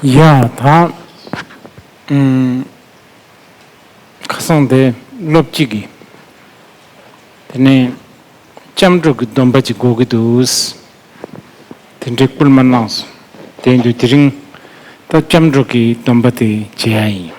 ཡ། ད་ཁ་སང་དེ་སློབ་གཅིག་གིས་དེ་ནས་ལྕམ་དྲུག་གི་སྡོམ་པ་ཅིག་གོ་གི་འདུག་དེ་འདྲའི་བསྐུལ་མ་གནང་སོང་བསྡད་འདུག་དེ་རིང་ད་ལྕམ་དྲུག་གི་སྡོམ་པ་དེ་བྱེད་ཡ་ཡིན།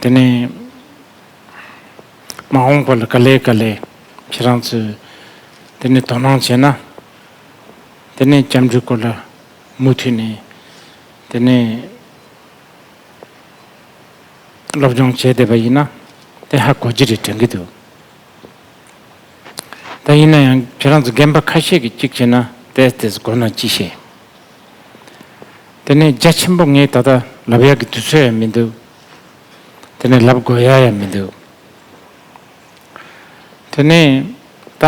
དེ་ནས་མ་འོངས་པ་ལ་དཀའ་ལས་དཀའ་ལས་ཁྱེད་རང་ཚོས་དེ་ནས་དོ་སྣང་བྱས་ན། དེ་ནས་སྐྱབས་འགྲོའི་སྐོར་ལ་མུ་མཐུད་ནས་དེ་ནས་སློབ་སྦྱོང་བྱས་བསྡད་པ་ཡིན་ན་དེ་ཧ་གོ་རྒྱུ་རེད་དྲན་གྱི་འདུག་ད་ཡིན་ན་ཡང་ཁྱེད་རང་ཚོ་རྒན་པ་ཁ་ཤས་ཀྱིས་གཅིག་བྱས་ན་དེས་དེས་དགོས་ན་ཅི་བྱེད། དེ་ནས་རྒྱ་ཆེན་པོ་ངས་ད་ལྟ་ལབ་ཡག་གི་དུས་ཚོད་ཡང་མི་འདུག་དེ་ནས་ལབ་དགོས་ཡ་ཡང་མི་འདུག་དེ་ནས་ད་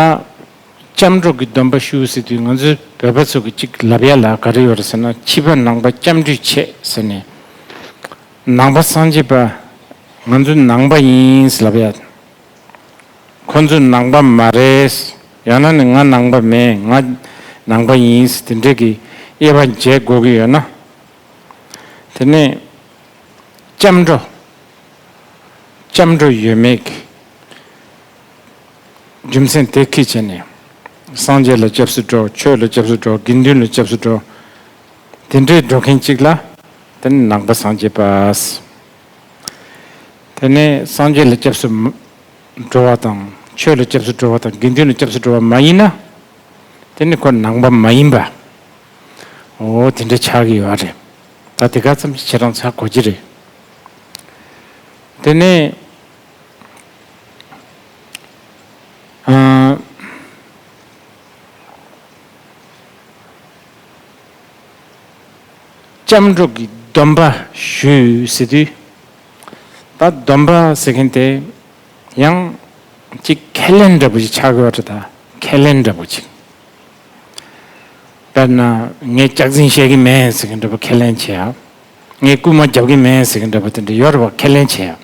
སྐྱབས་འགྲོ་གི་སྡོམ་པ་ཞུ་ཟེར་དུས་ང་ཚོའི་བོད་པ་ཚོ་གི་གཅིག་ལབ་ཡ་ལ་ག་རེ་ཡོད་རེད་ཟེར་ན་ཕྱི་པ་ནང་པ་སྐྱབས་འགྲོས་ཆེ་ཟེར་ནས་ནང་པ་སངས་རྒྱས་པ་ང་ཚོ་ནང་པ་ཡིན་ཟེར་ལབ་ཡ། ཁོ་ཚོ་ནང་པ་མ་རེད། ཡང་ན་ནི་ང་ནང་པ་མེད་ང་ནང་པ་ཡིན་དེ་འདྲས་ཀྱི་དབྱེ་བ་འབྱེད་དགོས་ཀྱི་ཡོད་ན། དེ་ནི་སྐྱབས་འགྲོ། སྐྱབས་འགྲོ་ཡོད་མེད་ཀྱི་རྒྱུ་མཚན་དེ་ཁས་བྱས་ནས། སངས་རྒྱས་ལ་སྐྱབས་སུ་འགྲོ་ཆོས་ལ་སྐྱབས་སུ་འགྲོ་དགེ་འདུན་ལ་སྐྱབས་སུ་འགྲོ་དེ་འདྲས་འགྲོ་མཁན་གཅིག་ལ་དེ་ནི་ནང་པ་སངས་རྒྱས་པ། དེ་ནས་སངས་རྒྱས་ལ་སྐྱབས་སུ་འགྲོ་བ་དང། ཆོས་ལ་སྐྱབས་སུ་འགྲོ་བ་དང་དགེ་འདུན་ལ་སྐྱབས་སུ་འགྲོ་བ་མ་ཡིན་ན། དེ་ནི་ཁོ་ནང་པ་མ་ཡིན་པ། འོ་དེ་འདྲ་ཆགས་ཀྱི་ཡོད་རེད། ད་དེ་ག་ཙམ་ཞིག་བྱེད་རང་ཆགས་དགོས་ཀྱི་རེད། དེ་ནས། ལྕམ་སྒྲོག་གིས་སྡོམ་པ་ཞུས་ཟེར་དུས། ད་སྡོམ་པ་ཟེར་མཁན་དེ་ཡང་གཅིག་ཁས་ལེན་འདྲ་པོ་ཞིག་ཆགས་ཡོད་རེད་ད་ཁས་ལེན་འདྲ་པོ་ཅིག་དཔེར་ན་ངས་སྐྱག་རྫིང་བཤད་གིན་མེད་ཟེར་གིན་འདྲ་པོ་ཁས་ལེན་བྱེད་ཡ། ངས་རྐུན་མ་རྒྱབ་གིན་མེད་ཟེར་གིན་འདྲ་པོ་དེ་འདྲ་ཡོད་རེད་བ་ཁས་ལེན་བྱེད་ཡ།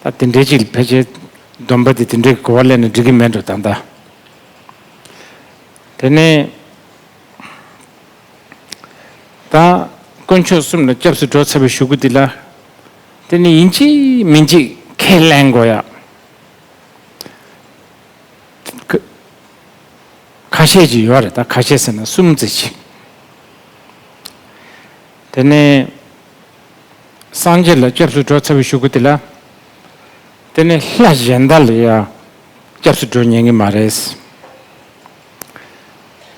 ད་དེ་འདྲའི་ཅིག་ཕལ་ཆེར་སྡོམ་པ་དེ་དེ་འདྲའི་གོ་བ་ལེན་ན་འགྲིག་གིན་མེད་འགྲོ་ད་ད། དེ་ནས་དང། དཀོན་མཆོག་གསུམ་ལ་སྐྱབས་སུ་འགྲོ་ཚར་བའི་ཞུ་གུ་འདི་ལ། དེ་ནི་ཡིན་གཅིག་མིན་གཅིག་ཁས་ལེན་དགོས་ཡ། ཁ་ཤས་ཀྱི་ཡོད་རེད་ད་ཁ་ཤས་ཟེར་ན་གསུམ་བརྩི་གཅིག། དེ་ནས། སངས་རྒྱས་ལ་སྐྱབས་སུ་འགྲོ་ཚར་བའི་ཞུ་གུ་འདི་ལ། དེ་ནི་ལྷ་གཞན་དག་ལས་ཡ། སྐྱབས་སུ་འགྲོ་ཉན་གྱི་མ་རེད།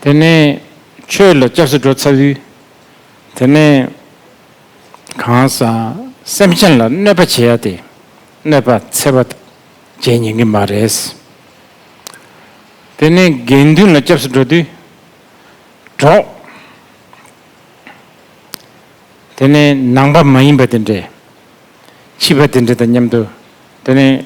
དེ་ནས་ཁྱོད་ལ་སྐྱབས་སུ་འགྲོ་ཚར་དུས། དེ་ནས་གང་ཟག་སེམས་ཅན་ལ་གནོད་པ་བྱེད་ཡ་སྟེ་གནོད་པ་འཚེ་བ་བྱེད་ཉན་གྱི་མ་རེད། དེ་ནས་དགེ་འདུན་ལ་སྐྱབས་སུ་འགྲོ་དུས། གྲོགས། དེ་ནས་ནང་པ་མ་ཡིན་པ་དེ་འདྲས། ཕྱི་པ་དེ་འདྲས་དང་མཉམ་དུ་དེ་ནས་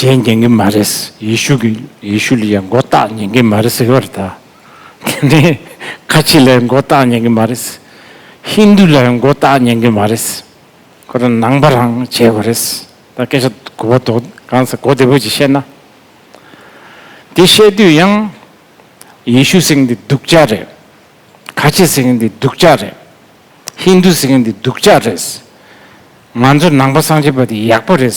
བརྗེད་ཉན་གྱི་མ་རེད། ཡེ་ཤུ་གི་ཡེ་ཤུ་ལ་ཡང་མགོ་བཏགས་ཉན་གྱི་མ་རེད་ཟེར་བ་རེད་ད། དེ་ནས་ཁ་ཆེ་ལ་ཡང་མགོ་བཏགས་ཉན་གྱི་མ་རེད། ཧིན་དུ་ལ་ཡང་མགོ་བཏགས་ཉན་གྱི་མ་རེད། ཁོ་རང་ནང་པ་རང་བྱས་པ་རེད། ད་སྐད་ཆ་གོ་བ་དོག་གང་ཟེར་གོ་བདེ་བོ་ཅིག་བཤད་ན། དེ་བཤད་དུས་ཡང། ཡེ་ཤུ་ཟེར་མཁན་དེ་སྡུག་ཅག་རེད། ཁ་ཆེ་ཟེར་མཁན་དེ་སྡུག་ཅག་རེད། ཧིན་དུ་ཟེར་མཁན་དེ་སྡུག་ཅག་རེད། ང་ཚོ་ནང་པ་སངས་རྒྱས་པ་དེ་ཡག་པོ་རེད།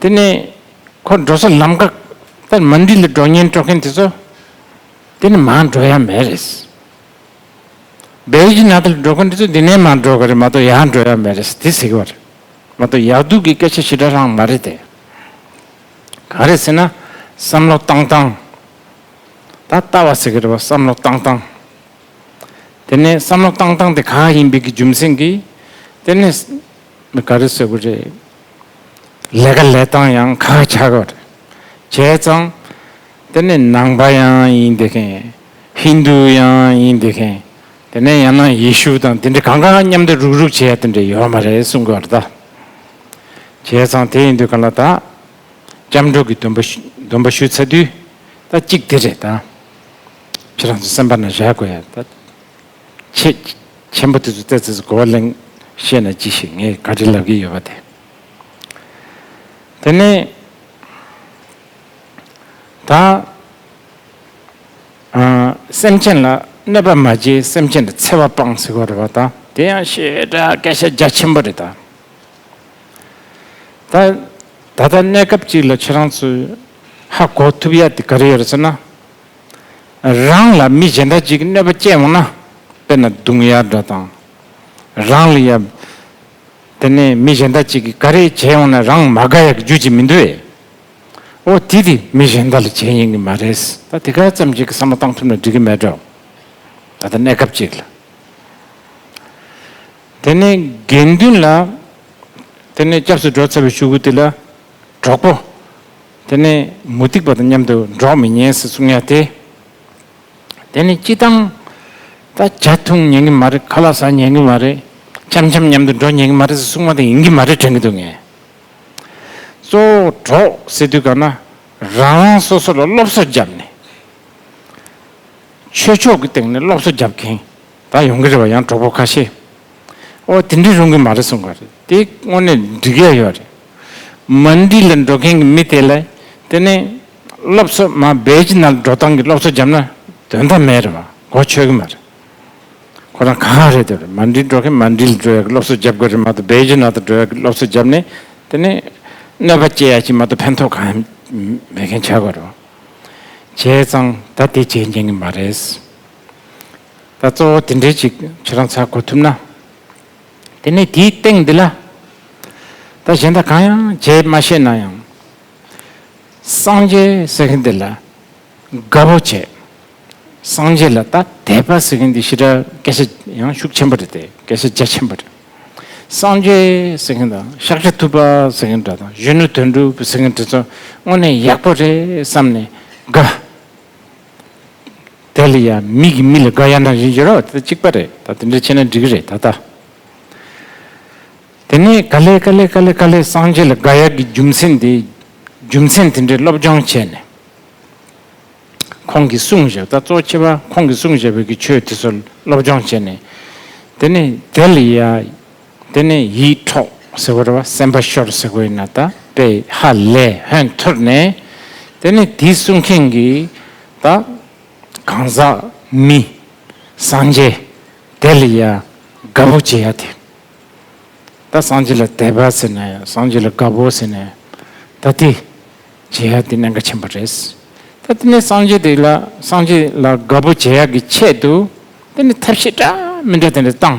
དེ་ནས་ཁོ་འགྲོ་ས་ལམ་འགག་ལྟར་མ་འདི་ལ་འགྲོ་ཉེན་སྤྲོ་མཁན་དེ་ཚོ་འདི་ནས་མང་འགྲོ་ཡ་མེད་རེད། སྦེལ་ཇི་ནཱ་ད་ལ་འགྲོ་མཁན་དེ་ཚོ་འདི་ནས་མང་འགྲོ་གི་རེད་མ་གཏོགས་ཡང་འགྲོ་ཡ་མེད་རེད་དེ་ཟེར་གི་བ་རེད་མ་གཏོགས་ཡག་སྡུག་གི་སྐད་ཆ་ཞི་དྲག་ལྷང་མ་རེད་དེ། ག་རེད་ཟེར་ན་བསམ་བློ་བཏང་བཏང། ད་ལྟ་བ་ཟེར་གི་རེད་བ་བསམ་བློ་བཏང་བཏང། དེ་ནས་བསམ་བློ་བཏང་བཏང་དེ་ག་ཡིན་པའི་གི་རྒྱུ་མཚན་གིས་དེ་ནས། མི་ག་རེ་ཟེར་གི་རེད། ལས་ཀ་ལས་སྟངས་ཡང་ཁ་ཁ་ཆགས་ཀྱི་རེད། བྱས་ཙང། དེ་ནི་ནང་པ་ཡང་ཡིན་དེ་མཁན། ཧིན་དུ་ཡང་ཡིན་དེ་མཁན། དེ་ནས་ཡང་ན་ཡེ་ཤུ་དང་དེ་འདྲའི་གང་གང་མཉམ་དུ་རུག་རུག་བྱས་དེ་འདྲས་ཡོད་མ་རེད་གསུང་གི་རེད་ད། བྱས་ཙང་དེ་ཡིན་དུས་ག་ལ་ད། སྐྱབས་འགྲོ་གི་འདོན་པ་ཞུ་ཚར་དུས་ད་གཅིག་དེ་རེད་ད། ཁྱེད་རང་ཚོ་སེམས་པ་ན་བཞག་དགོས་ཡ་ད། ཁྱེད་མཆན་བུ་དེ་ཚོ་བལྟས་ཚེ་གོ་བ་ལེན་ཤེས་ན་ཅི་ཞིག་ངས་བཀའ་དྲིན་ལབ་ཀྱི་ཡོད་པ་དེ། དེ་ནི། ད་སེམས་ཅན་ལ་གནོད་པ་མ་བྱེད་སེམས་ཅན་གྱི་འཚེ་བ་སྤང་ཟེར་བ་རེད་པ་ད་དེ་ཡང་ཞེ་དྲག་སྐད་ཆ་རྒྱ་ཆེན་པོ་རེད་ད། ད་ད་ལྟ་གནས་སྐབས་ཅིག་ལ་ཁྱེད་རང་ཚོས་ཧ་གོ་ཐུབ་ཡ་དེ་ག་རེ་ཡོད་རེད་ཟེར་ན། རང་ལ་མི་གཞན་འདྲ་ཅིག་གནོད་པ་སྐྱེས་འོང་ན། དཔེར་ན་རྡུང་ཡ་འདྲ་དང། རང་ལ་ཡ། དེ་ནས་མི་གཞན་འདྲ་ཅིག་གིས་ག་རེ་བྱས་འོང་ན་རང་མ་དགའ་ཡག་གི་རྒྱུ་ཅིག་མི་འདུག་ཨེ། འོ་དེ་དེ་མི་གཞན་འདྲ་ལ་བྱས་ཡིན་གྱི་མ་རེད། ད་དེ་ག་ཙམ་ཞིག་གི་བསམ་བློ་བཏང་ཐུབ་ན་འགྲིག་གི་མེད་འགྲོ། ད་ལྟ་གནས་སྐབས་ཅིག་ལ། དེ་ནས་དགེ་འདུན་ལ། དེ་ནས་སྐྱབས་སུ་འགྲོ་ཚར་བའི་ཤུགས་ཀྱིས་དེ་ལ། གྲོགས་པོ། དེ་ནི་མུ་སྟེགས་པ་དང་མཉམ་དུ་འགྲོགས་མི་ཉན་ཟེར་གསུང་ཡ་དེ། དེ་ནི་སྤྱི་བཏང། ད་བྱ་འཐུང་ཉན་གི་མ་རེད་ཁ་ལག་ཟ་ཉན་གི་མ་རེད་འཆམ་འཆམ་མཉམ་དུ་འགྲོ་ཉན་གི་མ་རེད་ཟེར་གསུང་བ་དེ་ཡིན་གི་མ་རེད་དྲན་གི་འདུག་ངས། གཙོ་བོ་གྲོགས་ཟེར་དུས་གང་ན་རང་རང་སོ་སོ་ལ་སློབ་གསོ་བརྒྱབ་ནས། ཆོས་ཕྱོགས་ཀྱི་སྟེང་ནས་སློབ་གསོ་བརྒྱབ་མཁན། ད་ཡོང་གི་རེད་བ་ཡང་གྲོགས་པོ་ཁ་ཤས་ཨོ་དེ་འདྲས་རུང་གི་མ་རེད་གསུངས་པ་རེད་དེ་དངོས་གནས་འགྲིག་ཡ་ཡོད་རེད་མ་འདི་ལ་འགྲོ་མཁན་གི་མི་དེ་ལ་དེ་ནས་སློབ་གསོ་མ་བེད་ཅི་ན་འགྲོ་སྟངས་གི་སློབ་གསོ་བརྒྱབ་ན་དོན་དམ་མེད་རེད་བ་གོ་ཆོད་གི་མ་རེད་ཁོ་རང་ག་ག་རེད་དེ་རེད་མ་འདི་འགྲོ་མཁན་མ་འདི་ལ་འགྲོ་ཡ་གི་སློབ་གསོ་བརྒྱབ་དགོས་རེད་མ་ཏོ་བེད་ཅི་ན་ད་འགྲོ་ཡ་གི་སློབ་གསོ་བརྒྱབ་ནས་དེ་ནས་གནོད་པ་བསྐྱེལ་ཡ་གི་མ་ཏོ་ཕན་ཐོག་གང་ཡང་མེད་མཁན་བྱ་དགོས་རེད་བ་བྱས་ཙང་ད་དེ་བྱེད་མཁན་གི་མ་རེད། ད་གཙོ་བོ་དེ་འདྲའི་ཅིག་ཁྱེད་རང་ཚར་གོ་ཐུབ་ན། དེ་ནས་དེའི་སྟེང་འདི་ལ། ད་གཞན་དག་གང་ཡང་བྱས་མ་ཤེས་ན་ཡང། སངས་རྒྱས་ཟེར་མཁན་དེ་ལ་དགའ་བོ་བྱས། སངས་རྒྱས་ལ་ད་དད་པ་ཟེར་མཁན་དེ་ཤི་དྲག་སྐད་ཆ་ཡང་ཤུགས་ཆེན་པོ་རེད་དེ་སྐད་ཆ་རྒྱ་ཆེན་པོ་རེད། སངས་རྒྱས་ཟེར་མཁན་དང་ཤཱཀ་ཤ་ཐུབ་པ་ཟེར་མཁན་འདྲ་དང་གཞོན་ནུ་དོན་གྲུབ་ཟེར་མཁན་དེ་ཚོ་དངོས་གནས་ཡག་པོ་རེད་བསམ་ནས་དགའ། དེ་ལ་ཡང་མིག་གིས་མི་ལ་དགའ་ཡང་དང་བཞིན་བྱེད་རོགས་དེ་གཅིག་པ་རེད་ད་དེ་འདྲ་བྱས་ན་འགྲིག་གི་རེད་ད་ལྟ། དེ་ནས་ག་ལེ་ག་ལེ་ག་ལེ་ག་ལེ་སངས་རྒྱས་ལ་དགའ་ཡག་གི་རྒྱུ་མཚན་དེ་རྒྱུ་མཚན་དེ་འདྲའི་སློབ་སྦྱོང་བྱས་ནས། ཁོང་གིས་གསུང་བཞག་ད་གཙོ་ཆེ་བ་ཁོང་གིས་གསུང་བཞག་བོད་ཀྱི་ཆོས་དེ་ཚོ་སློབ་སྦྱོང་བྱས་ནས། དེ་ནས་དེ་ལ་ཡང། དེ་ནས་ཡིད་འཕྲོག་ཟེར་བ་རེད་བ་སེམས་པ་ཤོར་ཟེར་དགོས་ན་ད་པེ་ཧ་ལས་ཧོན་ཐོར་ནས་དེ་ནས་དེ་གསུང་མཁན་གི་ད་གང་ཟག་མི་སངས་རྒྱས་དེ་ལ་ཡ་དགའ་པོ་བྱེད་ཡ་དེ་ད་སངས་རྒྱས་ལ་དད་པ་ཟེར་ནས་སངས་རྒྱས་ལ་དགའ་པོ་ཟེར་ནས་ད་དེ་བྱེད་ཡ་དེ་གནད་འགག་ཆེན་པོ་རེད་ད་དེ་ནས་སངས་རྒྱས་དེ་ལ་སངས་རྒྱས་ལ་དགའ་པོ་བྱེད་ཡ་གི་ཆེད་དུ་དེ་ནས་ཐབས་ཤེས་འདྲ་མི་འདྲ་དེ་འདྲ་བཏང།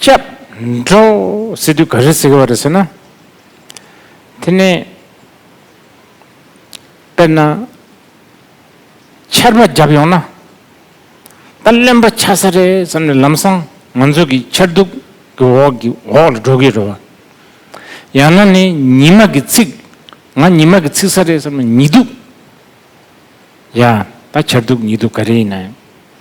སྐྱབས་འགྲོ་ཟེར་དུས་ག་རེ་ཟེར་གི་བ་རེད་ཟེར་ན། དེ་ནི། དཔེར་ན། ཆར་པ་བརྒྱབ་ཡོང་ན། ད་བརླན་པ་ཆགས་ས་རེད་བསམ་ནས་ལམ་སང་ང་ཚོ་གི་ཆར་གདུགས་ཀྱི་འོག་གི་འོག་ལ་འགྲོ་གི་རེད་བ། ཡང་ན་ནི་ཉི་མ་གི་ཚིགས་ང་ཉི་མ་གི་ཚིགས་ས་རེད་བསམ་ན་ཉི་གདུགས། ཡ། ད་ཆར་གདུགས་ཉི་གདུགས་ག་རེ་ཡིན་ན་ཡང།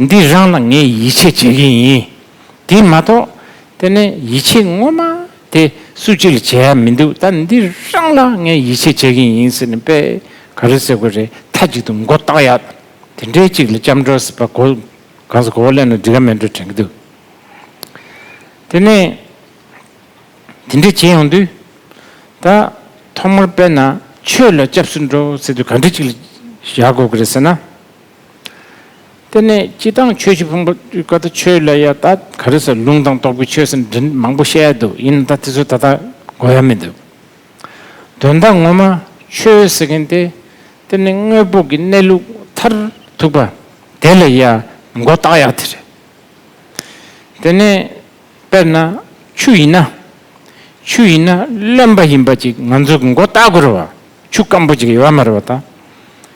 འདི་རང་ལ་ངས་ཡིད་ཆེས་བྱེད་མཁན་ཡིན། དེ་མ་གཏོགས་དེ་ནི་ཡིད་ཆེས་ངོ་མ་དེ་སུ་གཅིག་ལ་བྱས་ཡ་མི་འདུག་ད་འདི་རང་ལ་ངས་ཡིད་ཆེས་བྱེད་མཁན་ཡིན་ཟེར་ནས་དཔེ་ག་རེ་ཟེར་དགོས་རེད་མཐའ་གཅིག་ཏུ་མགོ་བཏགས་ཡ། དེ་འདྲའི་གཅིག་ལ་སྐྱབས་འགྲོ་ཟེར་བ་གོ་གང་ཟེར་གོ་བ་གླེང་ན་འགྲིག་ག་མེད་འགྲོ་དྲན་གྱི་འདུག་དེ་ནས་དེ་འདྲས་བྱེད་ཡོང་དུས་ད་ཐོག་མར་དཔེ་ན་ཆོས་ལ་སྐྱབས་སུ་འགྲོ་ཟེར་དུས་ག་འདྲས་གཅིག་ལ་བཞག་དགོས་ཀྱི་རེད་ཟེར་ན། དེ་ནས་སྤྱི་དང་ཆོས་ཀྱི་ཕུང་པོ་སྤྲུལ་སྐུ་དང་ཆོས་ལ་ཡང་ད་ག་རེ་ཟེར་ལུང་དང་སྟོབས་ཀྱི་ཆོས་ཟེར་འདྲི་མང་པོ་བཤད་འདུག་ཡིན་ན་ད་དེ་ཚོ་ད་ལྟ་གོ་ཡ་མི་འདུག་དོན་དག་ངོ་མ་ཆོས་ཟེར་མཁན་དེ་དེ་ནི་དངོས་པོ་གི་གནས་ལུགས་མཐར་ཐུག་པ་དེ་ལ་ཡང་མགོ་བཏགས་ཡག་དེ་རེད། དེ་ནས་དཔེར་ན་ཆུ་ཡིན་ན་ཆུ་ཡིན་ན་རློན་པ་ཡིན་པ་ཅིག་ང་ཚོས་མགོ་བཏགས་དགོས་རེད་བ་ཆུ་སྐམ་པོ་ཅིག་ཡོད་མ་རེད་བ་ད།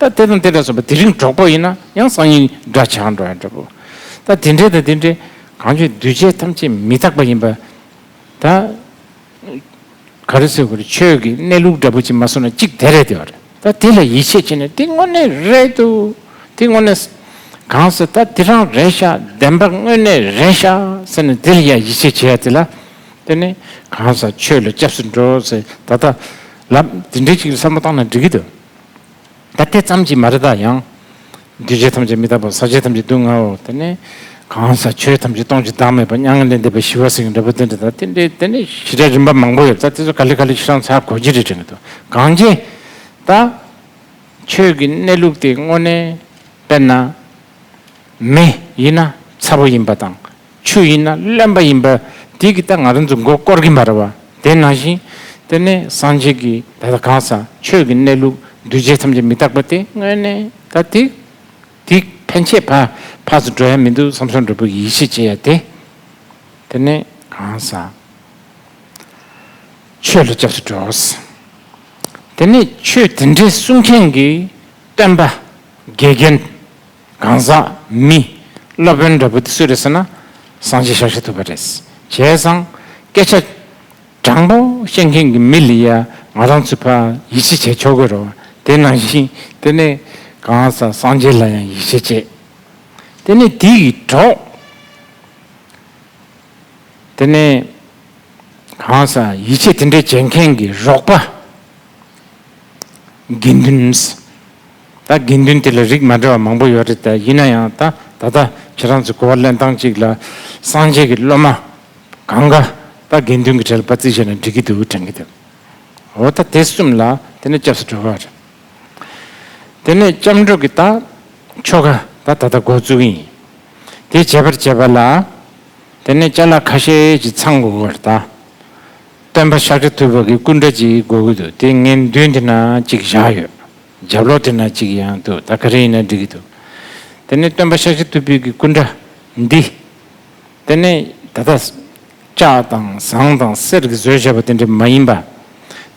ད་དེ་དང་དེ་འདྲ་གསུངས་པ་དེ་རིང་གྲོགས་པོ་ཡིན་ན་ཡང་སང་ཉིན་འདྲ་བྱ་འགྲོ་ཡང་འདྲ་བོ། ད་དེ་འདྲའི་དང་དེ་འདྲའི་གང་བྱུང་འདུས་བྱས་ཐམས་ཅད་མི་རྟག་པ་ཡིན་པ་ད། ག་རེ་གསུང་གི་རེད་ཆོས་ཀྱི་གནས་ལུགས་འདྲ་བོ་ཅིག་མ་གསུང་ན་གཅིག་དེ་རེད་བསྡད་པ་རེད་ད་དེ་ལ་ཡིད་ཆེས་བྱེད་ནས་དེ་དངོས་གནས་རེད་དོ། དེ་དངོས་གནས། གང་ཟེར་ད་དེ་རང་རེད་ཤག་བདེན་པ་དངོས་གནས་རེད་ཤག་ཟེར་ནས་དེ་ལ་ཡང་ཡིད་ཆེས་བྱེད་ཡ་དེ་ལ་ལྟོས་ནས་གང་ཟག་ཆོས་ལ་སྐྱབས་སུ་འགྲོ་ཟེར་ད་ད་ལབ་དེ་འདྲའི་ཅིག་ལ་བསམ་བློ་བཏང་ན་འགྲིག་གི་འདུག། ད་དེ་ཙམ་གྱིས་མ་རེད་ད་ཡང། རྒྱུ་བྱས་ཐམས་ཅད་མི་རྟག་པ་ཟག་བྱས་ཐམས་ཅད་སྡུག་བསྔལ་བ་དེ་ནི། གང་ཟག་ཆོས་ཐམས་ཅད་སྟོང་ཆུ་དྭངས་མེད་པ་མྱ་ངན་ལས་འདས་པའི་ཞི་བ་སེང་གེ་འདྲ་བོ་དེ་འདྲ་དང་དེ་འདྲའི་དེ་ནི་ཞི་བྲལ་རིམ་པ་མང་པོ་ཡོད་ད་དེ་ཚོ་ག་ལེ་ག་ལེ་ཁྱེད་རང་ཚ་གོ་གྱི་རེད་དྲན་གྱི་འདུག་གང་ཅེ། ད། ཆོས་ཀྱི་གནས་ལུགས་དེ་དངོས་གནས་དཔེར་ན། མི་ཡིན་ན་ཚ་བོ་ཡིན་པ་དང། ཆོས་ཡིན་ན་གླེན་པ་ཡིན་པ་དེ་གི་ད་ང་རང་ཚོ་མགོ་བསྐོར་གིན་པ་རེད་བ་དེ་ནང་བཞིན་དེ་ནས་སངས་རྒྱས་ཀྱི་ད་ལྟ་གང་ཟག་ཆོས་ཀྱི་གནས་ལུགས་གདུལ་བྱའི་ཐམས་ཅད་མི་རྟག་པ་དེ་དངོས་གནས་ད་དེ་དེ་ཕན་ཆད་བར་བར་དུ་འགྲོ་ཡ་མི་འདུག་བསམ་སོང་འདྲ་བུ་ཡིད་ཆེས་བྱེད་ཡ་དེ་དེ་ནས་གང་ཟག་ཆོས་ལ་སྐྱབས་སུ་འགྲོ། དེ་ནས་ཆོས་དེ་འདྲའི་གསུང་མཁན་གྱི་སྟོན་པ་དགེ་རྒན། གང་ཟག་མི་སློབ་དཔོན་འདྲ་བུ་དེ་སུ་རེད་ཟེར་ན་སང་ཆེ་ཤག་ཤ་ཐུབ་པ་རེད། བྱས་ཙང་སྐད་ཆ་དྲང་པོ་བཤད་མཁན་གྱི་མི་ལ་ཡང་ང་རང་ཚོས་ཕ་ཡིད་ཆེས་བྱས་ཆོག་གི་རོ། དེ་ནང་བཞིན་དེ་ནས་གང་ཟག་སང་ཆེ་ལ་ཡང་ཡིད་ཆེས་བྱས། དེ་ནས་དེ་ཡི་གྲོགས་དེ་ནས་གང་ཟག་ཡིད་ཆེས་དེ་འདྲ་བྱེད་མཁན་གྱི་རོགས་པ་དགེ་འདུན་ད་དགེ་འདུན་དེ་ལ་རིགས་མ་འདྲ་བ་མང་པོ་ཡོད་རེད་དཱ་ཡིན་ན་ཡང་ད་ད་ལྟ་ཁྱེད་རང་ཚོས་གོ་བ་གླེང་སྟངས་གཅིག་ལ་སངས་རྒྱས་ཀྱི་སློབ་མ་གང་ག་ད་དགེ་འདུན་གྱི་གྲལ་པ་རྩིས་བྱས་ནས་འགྲིག་གི་འདུག་དྲན་གི་འདུག་འོ་ད་དེ་གསུམ་ལ་དེ་ནས་སྐྱབས་སུ་འགྲོ་གི་རེད། དེ་ནས་སྐྱབས་འགྲོ་གི་ད་ཆོ་ག་ད་ད་ད་འགོ་བཙུགས་ཡིན། དེ་བྱས་པར་བྱས་པ་ལ་དེ་ནས་བཅའ་ལག་ཁ་ཤས་ཀྱི་ཚང་འགོ་གི་རེད་དཱ། སྟོན་པ་ཤཱཀྱ་ཐུབ་པ་གི་སྐུ་འདྲ་གཅིག་འགོ་གི་འདུག་དེ་ངའི་མདུན་དེ་ན་གཅིག་བཞག་ཡོད། རྒྱབ་ལོགས་དེ་ན་གཅིག་ཡང་འདུག་ད་ག་རེ་ཡིན་ན་འགྲིག་གི་འདུག། དེ་ནས་སྟོན་པ་ཤཱཀྱ་ཐུབ་བུས་ཀྱི་སྐུ་འདྲ་འདི། དེ་ནས་ད་ལྟ། ལྕགས་དང་ཟངས་དང་གསེར་གྱི་བཟོས་བྱས་པ་དེ་འདྲ་མ་ཡིན་པ།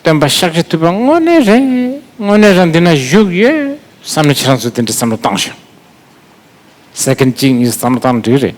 སྟོན་པ་ཤཱཀྱ་ཐུབ་པ་དངོས་གནས་རེད། དངོས་གནས་རང་འདི་ན་བཞུགས་ཡོད་བསམ་ནས་ཁྱེད་རང་ཚོས་དེ་འདྲ་བསམ་བློ་བཏང་ཞིང། ཟེར་མཁན་གཅིག་གཉིས་བསམ་བློ་བཏང་ན་འགྲིག་གི་རེད།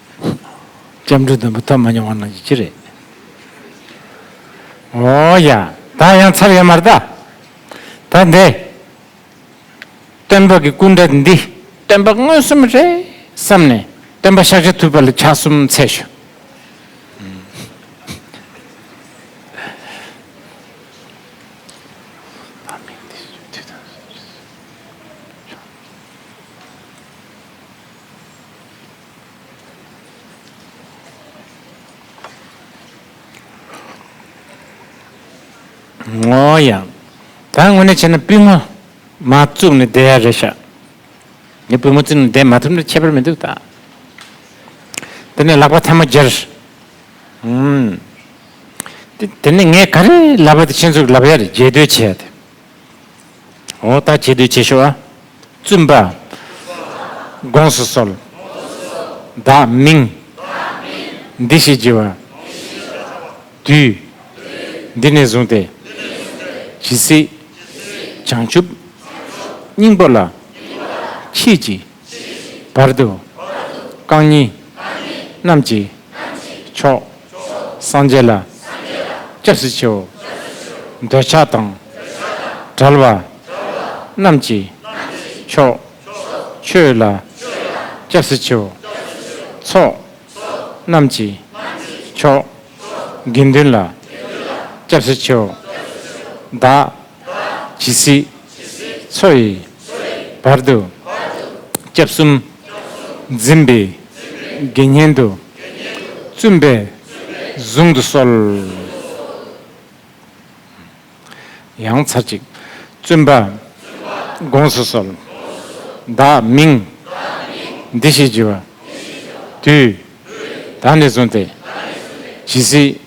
སྐྱབས་འགྲོ་དུམ་བུ་ཐོབ་མ་མྱོང་བ་རྣམས་ཀྱི་ཅི་རེད། འོ་ཡ། ད་ཡང་ཚར་ཡོད་མ་རེད་ད། ད་འདི། སྟོན་པ་གི་སྐུ་འདྲ་འདི་སྟོན་པ་མངོན་སུམ་རེད་བསམ་ནས་སྟོན་པ་ཤག་ཆ་ཐུབ་པ་ལ་ཕྱག་གསུམ་འཚལ་ཞུ། ངོ་ཡང། ད་དངོས་གནས་བྱས་ན་པུས་མོ་མ་བཙུགས་ནས་བསྡད་ཡ་རེད་ཤག། ངས་པུས་མོ་བཙུགས་ནས་བསྡད་མ་ཐུབ་ན་ཁྱད་པར་མི་འདུག་ད། དེ་ནས་ལག་པ་ཐལ་མོ་སྒྱེར། ཨུམ། དེ་ནས་ངས་ག་རེ་ལབ་པ་དེ་ཁྱེད་ཚོར་ལབ་ཡ་རེད་རྒྱས་སྡོད་བྱས་ཡ་དེ། འོ་ད་ཁྱེད་བསྡུས་བྱེད་ཤོག་ཨ། བཙུན་པ། དགོངས་སུ་གསོལ། བདག་མིང། འདི་ཞེས་བགྱི་བ། དུས། འདི་ནས་བཟུང་སྟེ། ཇི་སྲིད། བྱང་ཆུབ། སྙིང་པོ་ལ། མཆིས་ཀྱི། བར་དུ། རྐང་གཉིས། རྣམས་ཀྱིས། མཆོག། སངས་རྒྱས་ལ། སྐྱབས་སུ་མཆིའོ། འདོད་ཆགས་དང། བྲལ་བ། རྣམས་ཀྱིས། མཆོག། ཆོས་ལ། སྐྱབས་སུ་མཆིའོ། ཚོགས། རྣམས་ཀྱིས། མཆོག། དགེ་འདུན་ལ། སྐྱབས་སུ་མཆིའོ། བདག། ཇི་སྲིད། འཚོ་ཡི། བར་དུ། སྐྱབས་གསུམ། འཛིན་པའི། དགེ་བསྙེན་དུ། བཙུན་པས། བཟུང་དུ་གསོལ། ཡང་ཚར་གཅིག། བཙུན་པ། དགོངས་སུ་གསོལ། བདག་མིང། འདི་ཞེས་བགྱི་བ། དུས། ད་ནས་བཟུང་སྟེ། ཇི་སྲིད།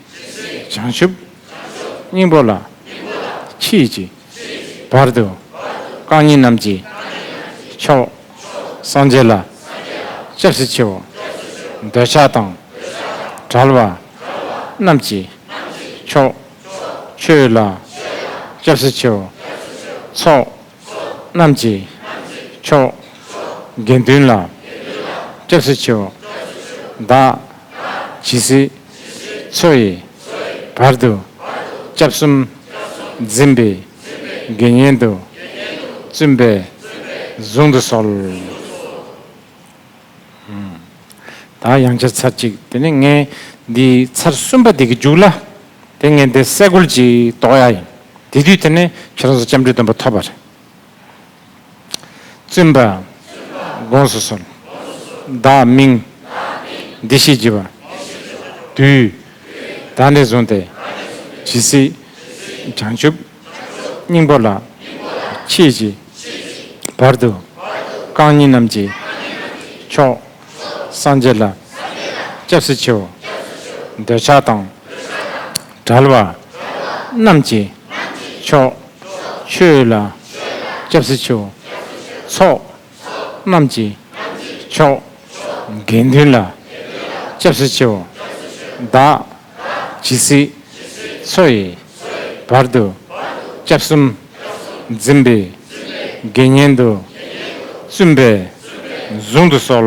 བྱང་ཆུབ། སྙིང་པོ་ལ། ཕྱིས་ཀྱི། བར་དུ། རྐང་གཉིས་རྣམས་ཀྱིས། མཆོག། སངས་རྒྱས་ལ། སྐྱབས་སུ་མཆིའོ། འདོད་ཆགས་དང། བྲལ་བ། རྣམས་ཀྱིས། མཆོག། ཆོས་ལ། སྐྱབས་སུ་མཆིའོ། ཚོགས། རྣམས་ཀྱི། མཆོག། དགེ་འདུན་ལ། སྐྱབས་སུ་མཆིའོ། བདག། ཇི་སྲིད། འཚོ་ཡི། བར་དུ། སྐྱབས་གསུམ། འཛིན་པའི། དགེ་བསྙེན་དུ། བཙུན་པས། བཟུང་དུ་གསོལ། ད་ཡང་བྱས་ཚར་གཅིག་དེ་ནས་ངས་འདི་ཚར་གསུམ་པ་འདི་གི་རྒྱུགས་ལ་དེ་ངས་འདི་གསལ་འགོལ་གྱིས་དོགས་ཡ་ཡིན་དེ་དུས་དེ་ནས་ཁྱེད་རང་ཚོ་སྐྱབས་འགྲོའི་སྟོན་པ་ཐོབ་པ་རེད། བཙུན་པ། དགོངས་སུ་གསོལ། བདག་མིང། འདི་ཞེས་བགྱི་བ། དུས། ད་ནས་བཟུང་སྟེ། ཇི་སྲིད། བྱང་ཆུབ། སྙིང་པོ་ལ། ཕྱིས་ཀྱི། བར་དུ། རྐང་གཉིས་རྣམས་ཀྱིས། མཆོག། སངས་རྒྱས་ལ། སྐྱབས་སུ་མཆིའོ། འདོད་ཆགས་དང། བྲལ་བ། རྣམས་ཀྱིས། མཆོག། ཆོས་ལ། སྐྱབས་སུ་མཆིའོ། ཚོགས། རྣམས་ཀྱི། མཆོག། དགེ་འདུན་ལ། སྐྱབས་སུ་མཆིའོ། བདག། ཇི་སྲིད། འཚོ་ཡི། བར་དུ། སྐྱབས་གསུམ། འཛིན་པའི། དགེ་བསྙེན་དུ། བཙུན་པས། བཟུང་དུ་གསོལ།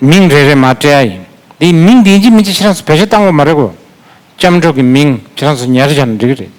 མིང་རེ་རེ་མ་སྤྲད་ཡ་ཡིན། དེ་མིང་འདི་འཇིག་མི་འཇིག་ཁྱེད་རང་ཚོ་བེད་སྤྱོད་བཏང་གོ་མ་རེད་གོ། སྐྱབས་འགྲོ་གི་མིང་ཁྱེད་རང་ཚོ་ཉར་བཞག་ན་འགྲིག་གི་རེད།